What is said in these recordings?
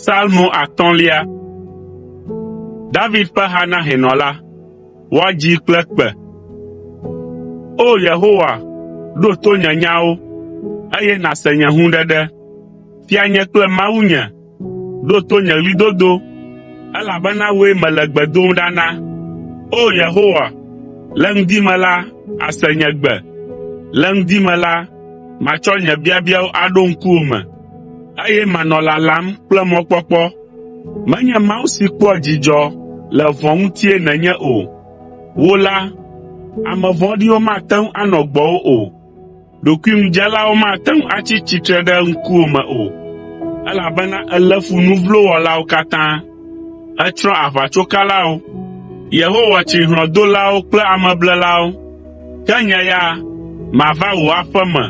Salmo atɔ̃lia. David ƒe ha na hɛnɔ la. Woadzi kple kpe. O Yehowa, ɖo to nye nyawo, eye nàse nye hũɖeɖe. Fia nye kple Mawu nye, Ɖo to nye ɣlidodo, elabena wòe mele gbe dom ɖa na. O Yehowa, le ŋdi me la, àse nye gbe. Le ŋdi me la, matsɔ nye biabiawo aɖo ŋkuwò me, eye manɔ lalam kple mɔkpɔkpɔ. Menye Mawu si kpɔa dzidzɔ le vɔ̃ ŋutie nènye o. Wò la, ame vɔ̃ɖiwo mate ŋu anɔ gbɔwò o. Ɖokuiŋudzelawo mate ŋu atsi tsitre ɖe ŋkuwò me o, elabena èlé fu nu vlo wɔlawo katã. Ètsrɔ̃ aʋatsokalawo. Yehowa tsri hlɔ̃dolawo kple ameblelawo. Ke nye ya, mava wò aƒe me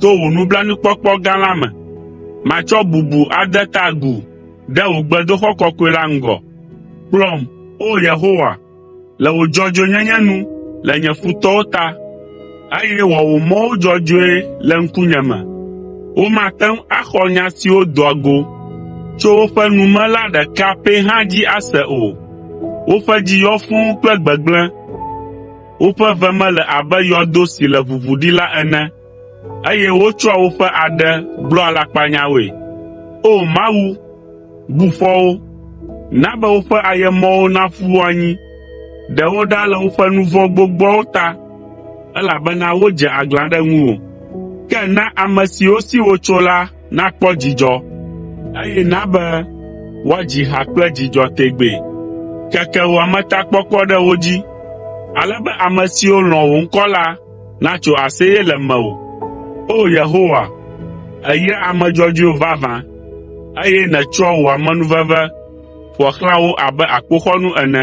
to wò nublanuikpɔkpɔ gã la me. Matsɔ bubu ade ta agu ɖe wò gbedoxɔ kɔkɔe la ŋgɔ. Kplɔm, O Yehowa, le wò dzɔdzɔenyenye nu le nye futɔwo ta, eye wɔ wò mɔwo dzɔdzɔe le ŋkunye me. Womate ŋu axɔ nya siwo doa go tso woƒe nu me la ɖeka pɛ hã dzi ase o. Woƒe dzi yɔ fũu kple gbegblẽ, woƒe ve me le abe yɔdo si le ʋuʋu ɖi la ene. Eye wotsɔa woƒe aɖe gblɔa alakpanyawoe. O Mawu, bu fɔ wo, na be woƒe ayemɔwo naƒu wo anyi. Ɖe wo ɖa le woƒe nu vɔ̃ gbogboawo ta, elabena wodze aglã ɖe ŋuwò. Ke na ame siwo si wotso la nakpɔ dzidzɔ, eye na be woadzi ha kple dzidzɔ tegbee. Keke wò ametakpɔkpɔ ɖe wo dzi, ale be ame siwo lɔ̃ wò ŋkɔ la natso aseye le mewò. O Yehowa, èyra ame dzɔdzɔewo vavã, eye nètsɔa wò amenuveve ƒoa xlã wo abe akpoxɔnu ene.